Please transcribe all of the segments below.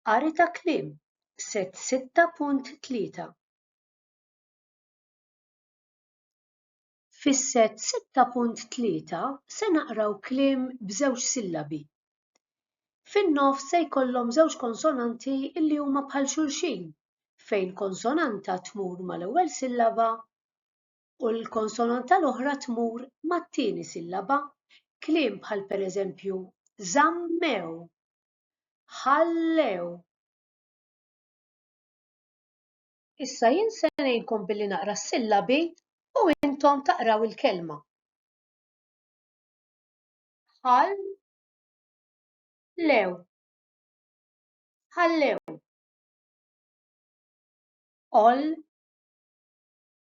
Qari ta' kliem, set 6.3 Fis-set 6.3 se naqraw kliem b'żewġ sillabi. Fin-nofs se jkollhom żewġ konsonanti li huma bħal xulxin fejn konsonanta tmur mal-ewwel sillaba u l-konsonanta l-oħra tmur mat-tieni sillaba, kliem bħal pereżempju żammew, ħallew. Issa jien se ngħinkom billi naqra s-sillabi u intom taqraw il-kelma. Ħall lew ħallew all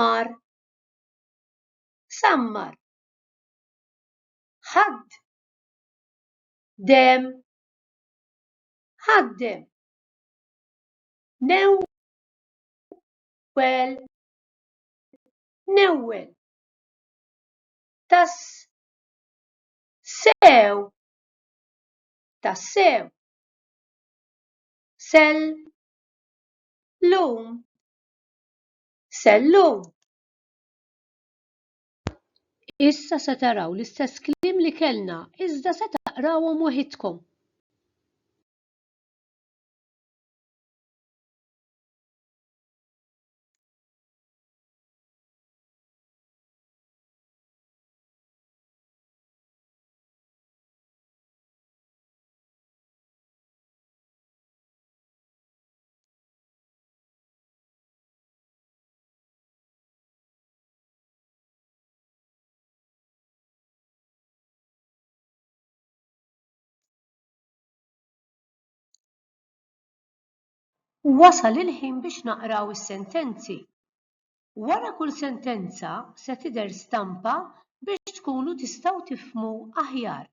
mar sammar ħadd dem ħaddem new well newwel tas sew tassew sell lum Sellum! Issa se taraw l-istess kliem li kellna, iżda se taqrawhom waħidkom. Wasal il-ħin biex naqraw is-sentenzi. Wara kull sentenza se tidher stampa biex tkunu tistgħu tifhmu aħjar.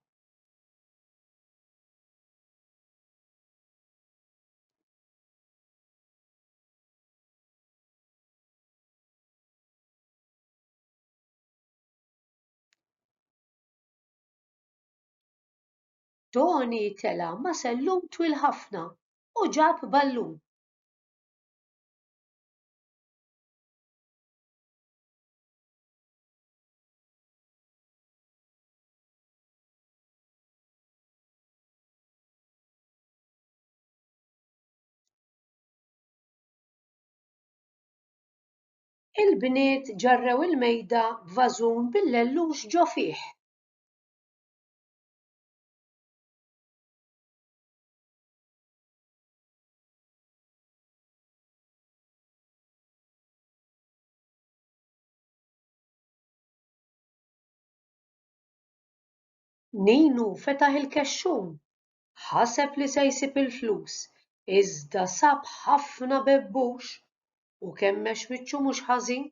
Tony tela' ma' sellum twil ħafna u ġab ballun. Il-bniet ġarrew il-mejda b'vażun bil-lellux ġo fih. Ninu fetaħ il-kexxun ħaseb li se jsib il-flus iżda sab ħafna bebbux u kemmex wiċċu mhux ħażin.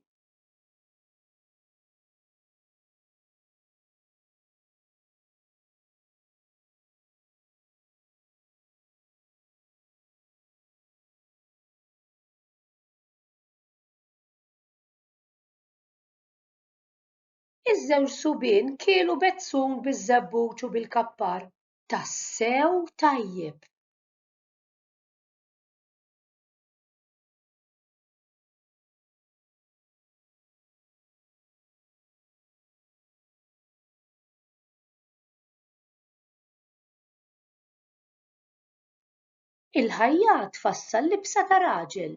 Iż-żewġ subien kielu bezzun biż-żebbuġ u bil-kappar tassew tajjeb. Il-ħajja tfassal libsa ta' raġel,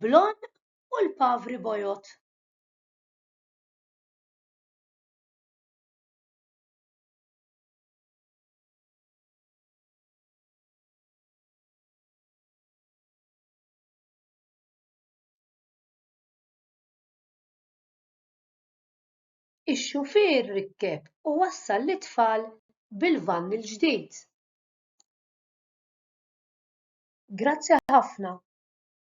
blond u l-pavri bojod. Ix-xufier rikkeb u wassal lit-tfal bil-vann il-ġdid. Grazzi ħafna.